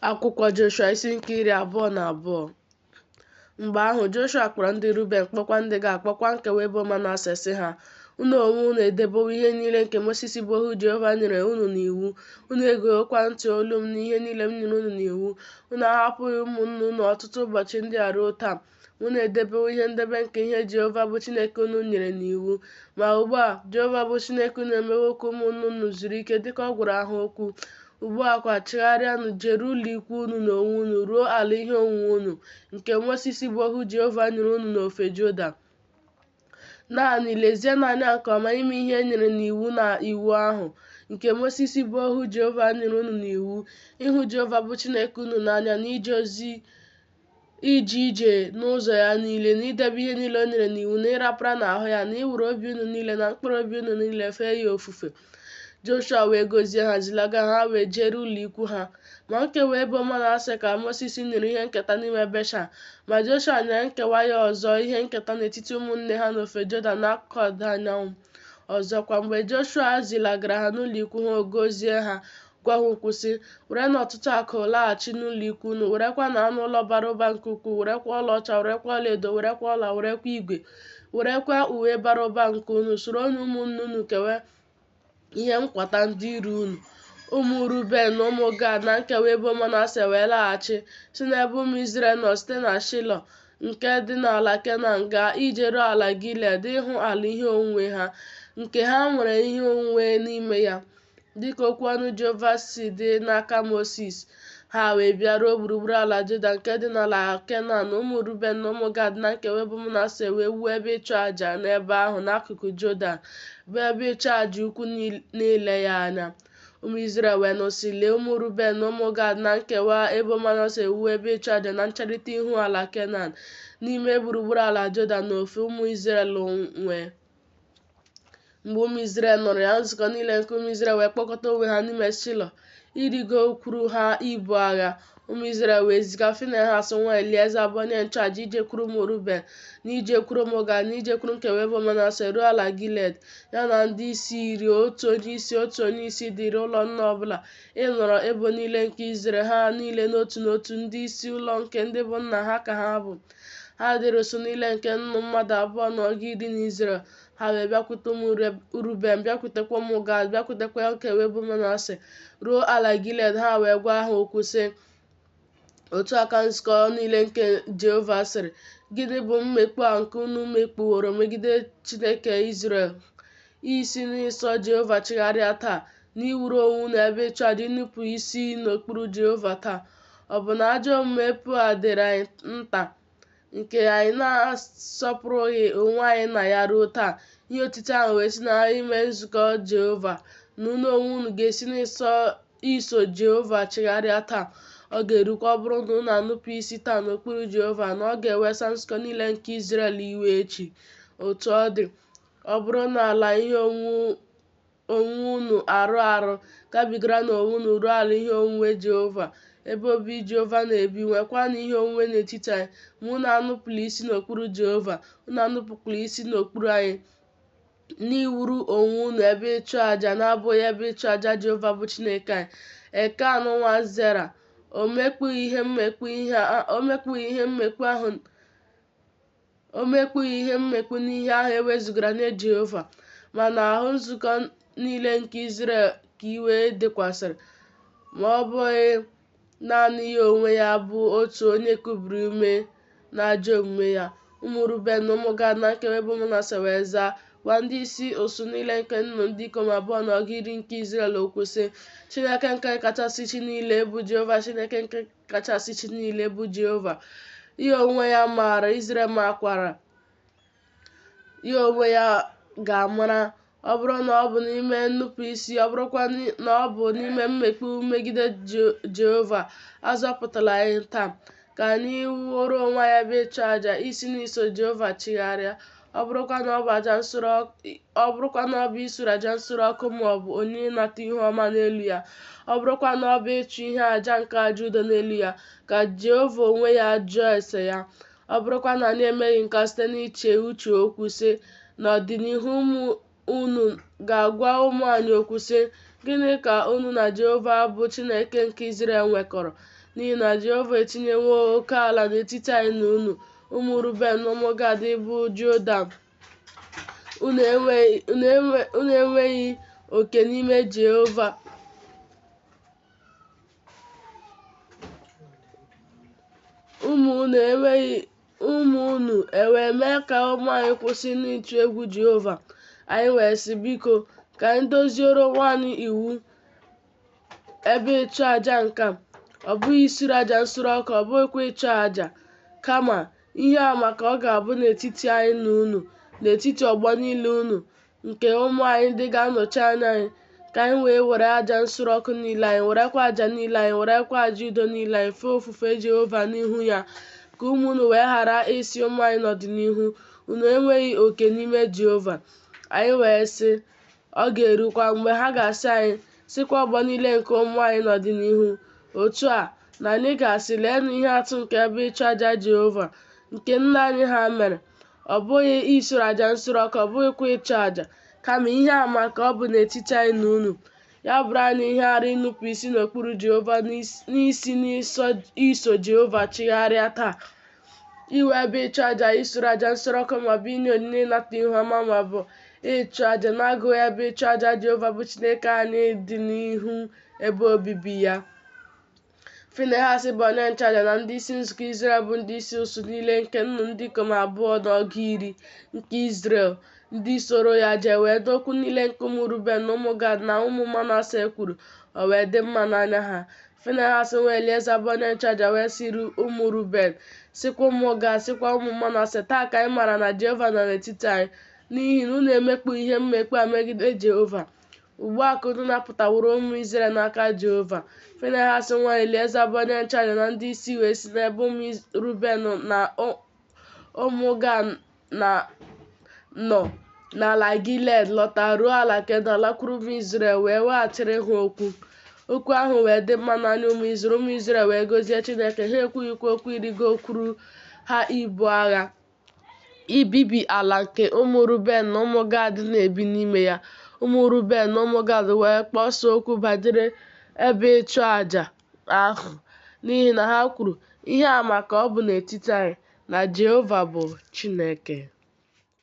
akwụkwọ joshua isi nke iri abụọ na abụọ mgbe ahụ joshua kpọrọ ndị ruben kpọkwa ndị gad kpọkwa nkewa ebo manase sị ha unu onwe unu edebewo ihe niile nke mosisi bụ ohu jehova nyere unu n'iwu unu egewokwa ntị olu m n'ihe niile m nyere unu n'iwu unu ahapụghị ụmụnne unu ọtụtụ ụbọchị ndị a ruo taa unu edebewo ihe ndebe nke ihe Jehova bụ Chineke unu nyere n'iwu ma ugbu a Jehova bụ Chineke unu emewo ka ụmụnne unu zuru ike dịka ọ gwara ha okwu ugbu a kwa chigharịanụ jere ụlọ ikwu unu n'onwe unu ruo ala ihe onwunwe unu nke Mosisi bụ ohu Jehova nyere unu n'ofe Jodan Naanị lezienụ anya nke ọma ime ihe e nyere n'iwu na iwu ahụ nke Mosis bụ ohu Jehova nyere unu n'iwu, ịhụ Jehova bụ Chineke unu n'anya na ije ozi ije ije n'ụzọ ya niile na idebe ihe niile o nyere n'iwu na ịrapara n'ahụ ya na iwere obi unu niile na mkpụrụ obi unu niile fee ya ofufe. Joshua wee gọzie ha zilaga ha wee jere ụlọ ikwu ha ma nkewa ebo Manase ka Moses nyere ihe nketa n'ime Beshan ma Joshua nyere nkewa ya ọzọ ihe nketa n'etiti ụmụnne ha n'ofe Jọdan n'akụkụ ọdịda anyanwụ ọzọkwa mgbe Joshua zilagara ha n'ụlọ ikwu ha ọ gọzie ha gwa ha okwu sị werenụ ọtụtụ akụ laghachi n'ụlọikwu unu werekwanụ anụ ụlọ bara ụba nke ukwuu werekwa ọlaọcha werekwa ọlaedo werekwa ọla werekwa igwe werekwa uwe bara ụba nke unu soronụ ụmụnne unu kewe ihe nkwata ndị iro unu ụmụ ruben na ụmụ gad na nkewa ebo manase wee laghachi si n'ebe ụmụ izrel nọ site na shilo nke dị n'ala kenan gaa ijeru ala gilead ịhụ ala ihe onwunwe ha nke ha nwere ihe onwunwe n'ime ya dịka okwu ọnụ Jehova si dị n'aka Mosis. Ha wee bịaruo gburugburu ala Jọdan nke dị n'ala Kenan, ụmụ Ruben na ụmụ Gad na nkewa ebo Manase wee wuo ebe ịchụ aja n'ebe ahụ n'akụkụ Jọdan, bụ ebe ịchụ aja ukwu n'ile ya anya. Ụmụ Izrel wee nụ sị, Lee, ụmụ Ruben na ụmụ Gad na nkewa ebo Manase ewuwo ebe ịchụ aja na ncherịta ihu ala Kenan, n'ime gburugburu ala Jọdan n'ofe ụmụ Izrel nwe. mgbe ụmụ Izrel nụrụ ya nzukọ niile nke ụmụ Izrel wee kpọkọta onwe ha n'ime Shilo irigokwuru ha ibu agha ụmụ Izrel wee ziga Finehas nwa Elieza bụ onye nchụaja ijekwuru ụmụ Ruben na ijekwuru ụmụ Gad na ijekwuru nkewa ebo Manase ruo ala Gilead ya na ndị isi iri otu onye isi otu onye isi dịrị ụlọ nna ọbụla ịnọrọ ebo niile nke Izrel ha niile n'otu n'otu ndị isi ụlọ nke ndị bụ nna ha ka ha bụ ha dịrị ụsụ niile nke nnụ mmadụ abụọ na ọgụ iri n'Izrel ha wee bịakwute ụmụ Ruben bịakwutekwa ụmụ Gad bịakwutekwa nkewa ebo Manase ruo ala Gilead ha wee gwa ha okwu sị otu a ka nzukọ niile nke Jehova sịrị gịnị bụ mmekpu a nke unu mekpuworo megide Chineke Izrel isi n'iso Jehova chigharịa taa, n'iwuru onwe unu ebe ịchụ aja inupụ isi n'okpuru Jehova taa. Ọ bụ na ajọ omume Peoa dịrị anyị nta nke anyị na-asọpụrụghị onwe anyị na ya ruo taa? Ihe otiti ahụ wee si n'ime nzukọ Jehova na unu onwe unu ga-esi n'iso Jehova chigharịa taa. Ọ ga-erukwa ọ bụrụ na unu anụpụ isi taa n'okpuru Jehova na ọ ga-ewesa nzukọ niile nke Izrel iwe echi. Otu ọ dị, Ọ bụrụ na ala ihe onwunwe unu arụ arụ, gabigaranụ onwe unu ruo ala ihe onwunwe Jehova, ebe obi Jehova na-ebi, nwekwanụ ihe onwunwe n'etiti anyị. Ma unu anụpụla isi n'okpuru Jehova, unu anụpụkwala isi n'okpuru anyị, n'iwuru onwe unu ebe ịchụ aja na-abụghị ebe ịchụ aja Jehova bụ Chineke anyị. Ekan nwa Zera, o mekpughị ihe mmekpu ahụ O mekpughị ihe mmekpu n'ihe ahụ e wezụgara nye Jehova, ma n'ahụ nzukọ niile nke Izrel ka iwe dịkwasịrị, ma ọ bụghị naanị ya onwe ya bụ otu onye kubiri ume n'ajọ omume ya. Ụmụ Ruben na ụmụ Gad na nkewa ebo Manase wee zaa, gwa ndị isi ụsụ niile nke nnụ ndị ikom abụọ na ọgụ iri nke Izrel okwu sị, Chineke nke kachasị chi niile, bụ Jehova Chineke nke kachasị chi niile bụ Jehova. Ya onwe ya maara, Izrel makwara. Ya onwe ya ga-amara ọ bụrụ na ọ bụ n'ime nnupụ isi ọ bụrụkwa na ọ bụ n'ime mmekpu megide Jehova azọpụtala anyị taa ka anyị wuoro onwe anyị ebe ịchụ aja isi n'iso Jehova chigharịa ọ bụrụkwa na ọ bụ aja nsure ọ bụrụkwa na ọ bụ isuru aja nsure ọkụ ma ọ bụ onyinye ịnata ihu ọma n'elu ya ọ bụrụkwa na ọ bụ ịchụ ihe aja nke aja udo n'elu ya ka Jehova onwe ya jụọ ese ya ọ bụrụkwa na anyị emeghị nke a site n'iche uche okwu sị n'ọdịnihu ụmụ unu ga-agwa ụmụ anyị okwu sị, Gịnị ka unu na Jehova bụ Chineke nke Izrel nwekọrọ? N'ihi na Jehova etinyewo oke ala n'etiti anyị na unu, ụmụ Ruben na ụmụ Gad bụ Jọdan. Unu enweghị oke n'ime Jehova. Ụmụ ụmụ unu ewee mee ka ụmụ anyị kwụsị n'ịtụ egwu Jehova. Anyị wee sị, Biko, ka anyị doziere onwe anyị iwu ebe ịchụ aja nke a, ọ bụghị isuru aja nsure ọkụ, ọ bụghịkwa ịchụ aja, kama ihe ama ka ọ ga-abụ n'etiti anyị na unu, n'etiti ọgbọ niile unu, nke ụmụ anyị ndị ga-anọchi anya anyị ka anyị wee were aja nsure ọkụ niile anyị werekwa aja niile anyị werekwa aja udo niile anyị fee ofufe Jehova n'ihu ya ka ụmụ unu wee ghara ịsị ụmụ anyị n'ọdịnihu unu enweghị oke n'ime Jehova anyị wee sị ọ ga-erukwa mgbe ha ga-asị anyị sịkwa ọgbọ niile nke ụmụ anyị n'ọdịnihu otu a na anyị ga-asị leenụ ihe atụ nke ebe ịchụ aja Jehova nke nna anyị ha mere ọ bụghị isure aja nsure ọkụ ọ bụghịkwa ịchụ aja kama ihe ama ka ọ bụ n'etiti anyị na unu ya bụrụ anyị ihe arụ inupụ isi n'okpuru jehova na isi n'iso jehova chigharịa taa iwu ebe ịchụ aja isure aja nsure ọkụ maọbụ inye onyinye ịnata ihu ọma maọbụ ịchụ aja na-agụghị ebe ịchụ aja jehova bụ chineke anyị dị n'ihu ebe obibi ya Finehas bụ onye nchụaja na ndị isi nzukọ Izrel bụ ndị isi usuu niile nke nnụ ndị ikom abụọ na ọgụ iri nke Izrel ndị soro ya jee wee nụ okwu niile nke ụmụ Ruben na ụmụ Gad na ụmụ Manase kwuru, o wee dị mma n'anya ha. Finehas nwa Elieza bụ onye nchụaja wee sịrị ụmụ Ruben, sịkwa ụmụ Gad, sịkwa ụmụ Manase, Taa ka anyị maara na Jehova nọ n'etiti anyị, n'ihi na unu emekpughi mmekpu a megide Jehova. Ugbu a ka unu napụtaworo ụmụ Izrel n'aka Jehova. Finehas nwa Elieza bụ onye nchụaja na ndị isi wee si n'ebe ụmụ Iz- Ruben na ụ- ụmụ Gad nọ n'ala Gilead lọta ruo ala Kenan lakwuru ụmụ Izrel wee weghachiri ha okwu. Okwu ahụ wee dị mma n'anya ụmụ Izrel, ụmụ Izrel wee gọzie Chineke, ha ekwughịkwa okwu ịrịgokwuru ha ibu agha. ibibi ala nke ụmụ Ruben na ụmụ Gad na-ebi n'ime ya. Ụmụ Ruben na ụmụ Gad wee kpọsa okwu banyere ebe ịchụ aja ahụ n'ihi na ha kwuru, Ihe ama ka ọ bụ n'etiti anyị na Jehova bụ Chineke.